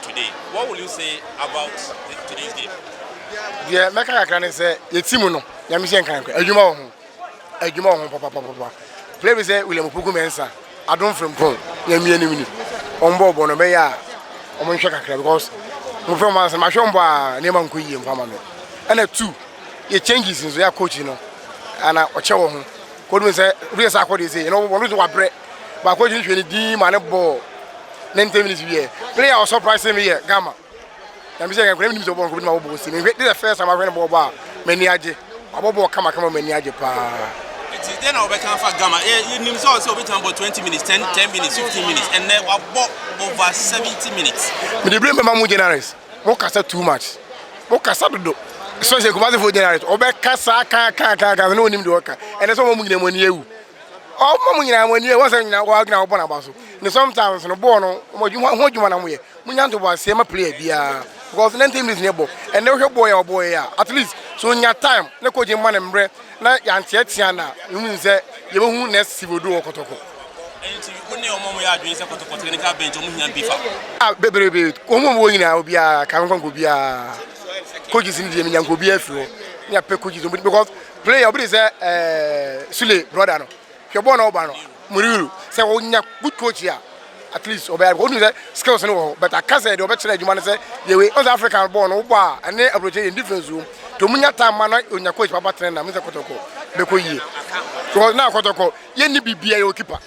Today, what will you say about the, today's game? Deɛ mɛka kakra ne sɛ yɛ team no nyame hyɛ nkan kɔ adwuma wɔ ho adwuma wɔ ho papapapapa play bi sɛ William Opoku Mensah adom frimpong nyame anim ni wɔn bɔ ɔbɔ no bɛyɛ a wɔn nhwɛ kakra because mo fɛ mo asɛm ahwɛ wɔn bɔ a nneɛma nkɔ yie mfa ma me ɛna two yɛ changes nso yɛ coach no ana ɔkyɛ wɔ ho kɔdun sɛ obi yɛ sɛ akɔde sɛ yɛn wɔn nso wabrɛ baako gyina hwɛ ne din ma ne bɔɔ ne ten minutes wiɛ player a ɔsɔprise mi yɛ gama na mi sɛ nkura mi nim sɛ ɔbɔ nkɔbi ma ɔbɔ osi mi nhwɛ this the first time ahwɛ ne bɔɔ bɔ a mɛ ni agye ɔbɔ bɔɔ kama kama mɛ ni agye paa. nti dɛ na ɔbɛka fa gama ɛ yɛ nim sɛ ɔsɛ ɔbɛtumi abɔ twenty minutes ten ten minutes fifteen minutes ɛnɛ wabɔ over seventy minutes. mi de bere mbɛma mu generous mo kasa too much mo kasa dodo especially kumasi fo generous ɔbɛka saa kan kan kan kan ne onim de ɔka ɛnɛ sɛ ɔmo nyina mo ani ewu. ɔma mo nyinaa mo ani ɛwɔ sɛ nyinaa wɔn nyinaa wɔbɔ n'aba so ne sometimes no bɔɔl no wɔn adwuma ho adwuma na mo yɛ mo nya ntobo aseɛ ma player biara because ninety minutes ne bɔ ɛnna wohwɛ bɔɔl yɛ ɔbɔɔl yɛ a at least so nya time ne coach ma ne mbrɛ na yanteatea na mo nim sɛ yɛbɛhu next season do wɔ kɔtɔkɔ. Ɛnti wo ne ɔmo mo yɛ adwene sɛ kɔtɔkɔ technical bench ɔmo hia bi fa. Ah bebrebe wɔn mu wɔn nyinaa obiara kan nkɔ nkɔ biara coaches ni deɛ menya nkɔ obiara firi hɔ ne apɛ coaches because. Play ya obi de sɛ ɛɛ Sule brɔda no hwɛ bɔɔl na ɔba no Muriru sɛ ɔnya good coach a at least ɔbɛyɛ because ɔnu sɛ skills no wɔ hɔ but aka sɛ deɛ ɔbɛkyerɛ adwuma no sɛ yɛ wei ɔn sɛ African bɔɔl no wobɔ a ɛne aburokyire yɛn difference wɔ mu nti ɔmu nya time ma na ɔnya coach papa tena na mu sɛ kɔtɔkɔ bɛkɔ yie because na kɔtɔkɔ yɛnni bibia yɛwɔ kipa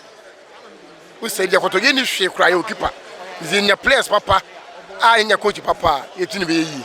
wosɛ deɛ kɔtɔ yɛnni hwee koraa yɛwɔ kipa nti yɛnya players papa a yɛnya coach papa a yɛtini bɛyɛ yie.